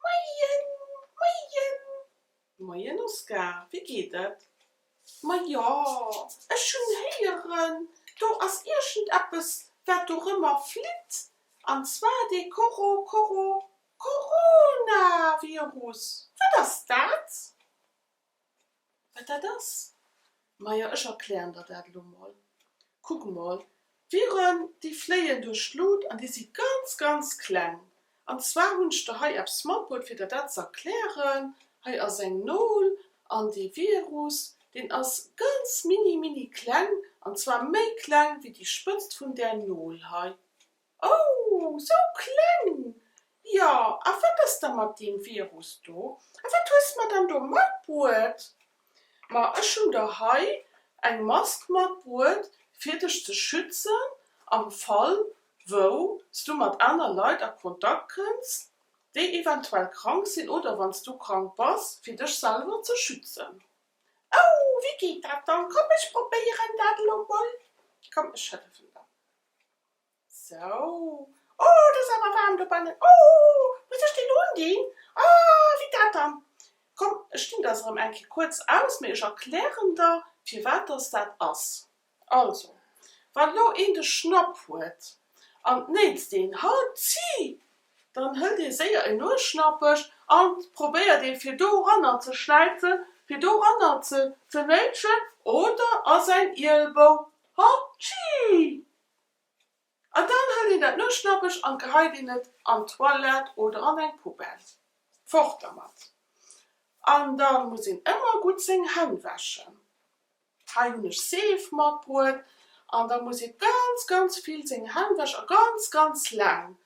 Moien Moien Moien Oskar, wéi geet et? Ma jo, ech hunn héieren, do ass iergendeppes, wat do rëmmer flitt, an zwar dee Coro Coro Coronavirus. Wat ass dat? Wat dat ass? Majo, ech erklären der dat elo mol. Kuck mol, d'Viren, déi fléien duerch d'Lut an déi si ganz, ganz kleng. An zwar hunn ech der hei eppes matbruet, fir der dat ze erklären. Hei ass eng Nol an dee Virus, deen ass ganz mini, mini kleng, an zwar méi kleng wéi déi Spëtzt vun där Nol hei. Oh, sou kleng! Jo, a wat ass da mat deem Virus do? A wat hues mer dann do matbruet? Ma ech hunn der hei eng Mask matbruet, fir dech ze schützen am Fall, wou s du mat aner Leit a Kontakt kënns, déi eventuell krank sinn, oder wann s du krank bass, fir dech selwer ze schützen. Oh, wéi geet dat dann? Komm, ech probéieren dat elo mol. Komm, ech hëllefen der. Sou, oh, et ass awer waarm dobannen. Oh, muss ech deen undinn? Ah, wéi dat dann? Komm, ech dinn der se erëm eng Kéier kuerz aus, mee ech erklären der, firwat dass dat ass. Also, wann elo een de Schnapp huet an d'Néits deen Halt zii, dann hëlt ee séier een Nuesschnappech an probéiert ee fir doranner ze schläizen, fir doranner ze ze néitschen oder a säin Ielbou. Halt zii! An dann hëlt een dat Nueschnappech an geheit een et an d'Toilette oder an eng Poubelle. Fort dermat! An da muss een ëmmer gutt seng Hänn wäschen. Hei hunn ech Seef matbruet. An da muss ee ganz, ganz vill seng Hänn wäschen a ganz, ganz laang.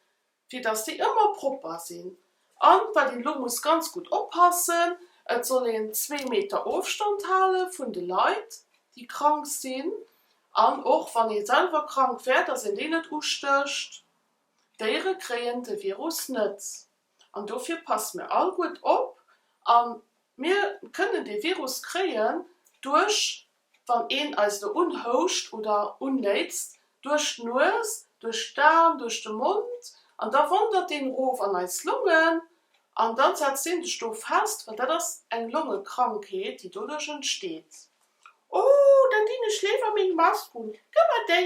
fir dass déi ëmmer propper sinn an wat een elo muss ganz gutt oppassen, et soll een zwee Meter Ofstand hale vun de Leit déi krank sinn an och wann ee selwer krank wär, dass een déi net ustécht. D'Déiere kréien de Virus net an dofir passe mir all gutt op a mir kënnen dee Virus kréien duerch Wann een eis do unhouscht oder unnéitzt, duerch d'Nues, duerch d'An, duerch de Mond, an da wandert deen erof an eis Longen an da setzt deen sech do fest, well dat ass eng Longekrankheet, déi doduerch entsteet. Oh, dann dinn ech léiwer meng Mask un. Gëmmer déi!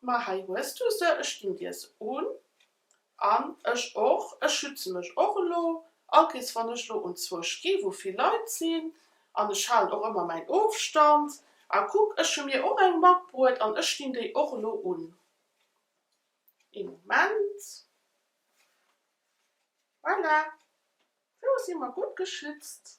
Ma hei hues du se, ech ginn dir se un. An ech och, ech schütze mech och elo. Allkéirs wann ech elo unzwousch gi wou vill Leit sinn, an ech halen och ëmmer mäin Ofstand, a kuck ech hu mir och eng matbruet an ech dinn déi och elo un. Ee Moment, voilà, elo si mer gutt geschützt.